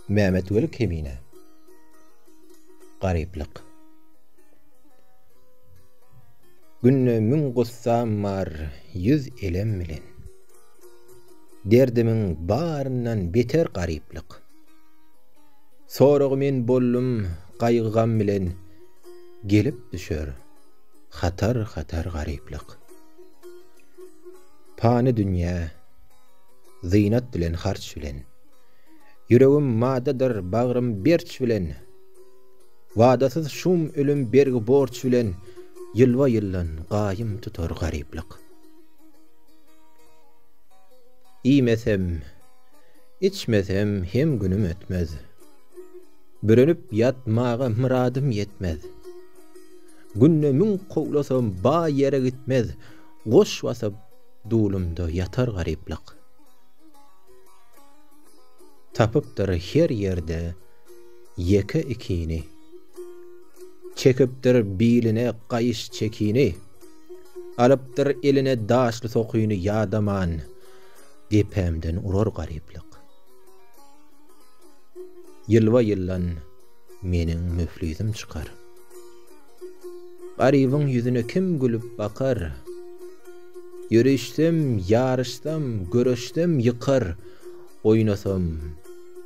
Mehmet Weli Kemine Gariplik Günde müň gussam bar ýüz elem bilen Derdimiň baryndan beter gariplik Soragy men bollum gaýgy-gam bilen Gelip düşer hatar-hatar gariplik Pany dünýä, zynat bilen, harç bilen. Ýüregim madadyr, bagrym berç bilen. Wadasyz şum ölüm bergi-borç bilen, ýylba-ýyldan gaýym tutar garyplyk. Iýmesem, içmesem hem günüm ötmez. Bürenip ýatmaga myradym ýetmez. Günde müň kowlasam baý ýere gitmez. Goş basyp dulumda ýatar garyplyk. Tapypdyr her ýerde ýeke-ikini. Çekipdir biline gaýyş çekini. Alypdyr eline daşly sokyny ýadaman depämden urar garyplyk. Ýylba-ýyldan meniň müflisim çykar. Garybyň ýüzüne kim gülüp bakar? Ýörişsem, ýaryşsam, göreşsem ýykar, Oýnasam,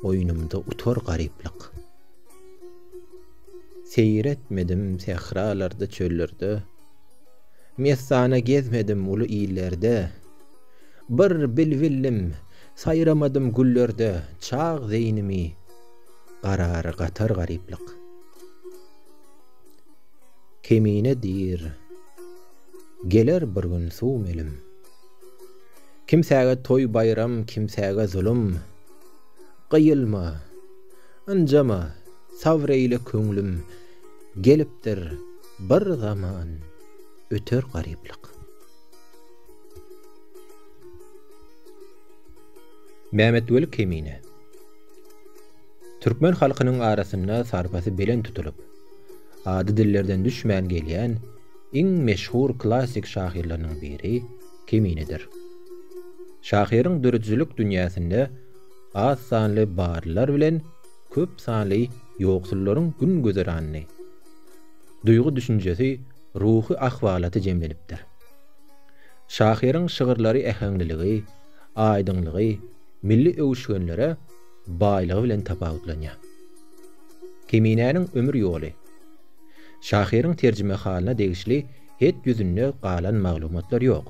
oýnumda utar garyplyk. Seýir etmedim sähralarda, çöllerde, Messana gezmedim uly illerde, Bir bilbillim saýramadym güllerde, Çag zeýnimi garary gatar garyplyk. Kemine diýr, Geler bir gün suw melim. Kimsäge toý-baýram, kimsäge zulum. Gyýylma, ynjama, sabr eýle köňlüm. Gelipdir bir zaman, öter garyplyk. Mämmetweli Kemine. Türkmen halkynyň arasynda sarpasy belent tutulyp, ady dillerden düşmän gelýän iň meşhur klassyk şahyrlarynyň biri Keminidir. Şahyryň döredijilik dünýäsinde az sanly barlylar bilen köp sanly ýoksullaryň gün-güzeranyny, duýgy-düşünjesi, ruhy ahwalaty jemlenipdir. Şahyryň şygyrlary äheňliligi, aýdyňlygy, milli öwüşginlere, baýlygy bilen tapawutlanýar. Keminäniň ömür ýoly. Şahyryň terjimehalyna degişli het ýüzünde galan maglumatlar ýok.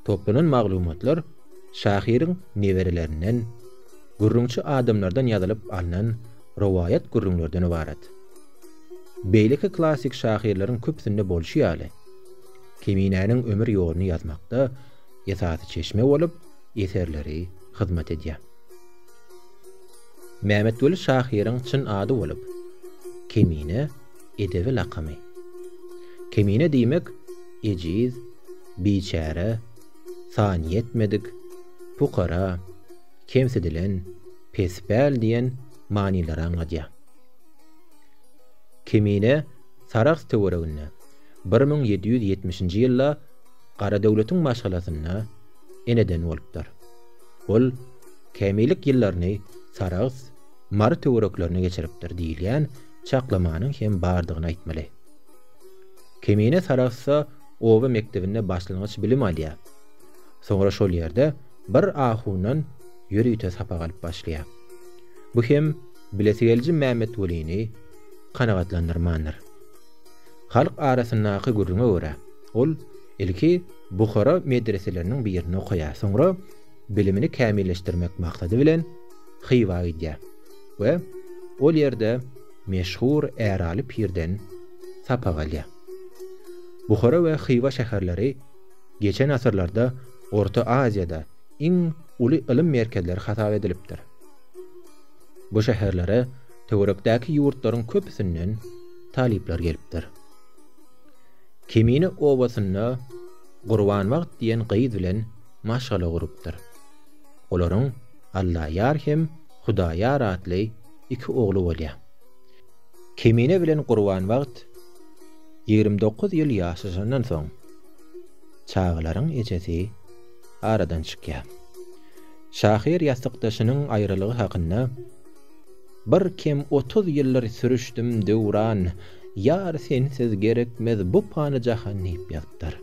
Toplanan maglumatlar şahyryň neberelerinden, gürrüňçi adamlardan ýazylyp alnan rowaýat gürrüňlerden ybarat. Beýleki klassyk şahyrlaryň köpüsinde bolşy ýaly, Keminäniň ömür ýoluny ýazmakda esasy çeşme bolup eserleri hyzmat edýär. Mämmetweli şahyryň çyn ady bolup, Kemine, edebi lakamy. Kemine diýmek, ejiz, biçäre, sanýetmedik, pukara, kemsidilen, pespäl diýen manylary aňladýar. Kemine Sarahs töwereginde bir müň ýedi ýüz ýetmişinji ýylda Garadöwletiň maşgalasynda eneden bolupdyr. Ol kämillik ýyllaryny Sarahs, Mary töwereklerinde geçiripdir diýilýän çaklamanyň hem bardygyny aýtmaly. Kemine Sarahsda oba mekdebinde başlangyç bilim alýar. Soňra şol ýerde bir ahundan ýörite sapak alyp başlaýar. Bu hem bilesigeliji Mämmetwelini kanagatlandyrmandyr. Halk arasyndaky gürrüňe görä, ol ilki Buhara medreseleriniň birinde okaýar. Soňra bilimini kämilleşdirmek maksady bilen Hywa gidýär we ol ýerde meşhur Äraly pirden sapak alýar. Buhara we Hywa şäherleri geçen asyrlarda Orta Aziýada iň uly ylym merkezleri hasap edilipdir. Bu şäherlere töwerekdäki ýurtlaryň köpüsinden talyplar gelipdir. Kemine obasynda Gurbanbagt diýen gyz bilen maşgala gurupdyr. Olaryň Allaýar hem Hudaýar atly iki ogly bolýar. Kemine bilen Gurbanbagt ýigrimi dokuz ýyl ýaşaşandan soň, çagalaryň ejesi aradan çykýar. Şahyr ýassykdaşynyň aýralygy hakynda. Bir kem otuz ýyldyr sürüşdim döwran, Ýar sensiz gerekmez bu pany jahan diýip ýazypdyr.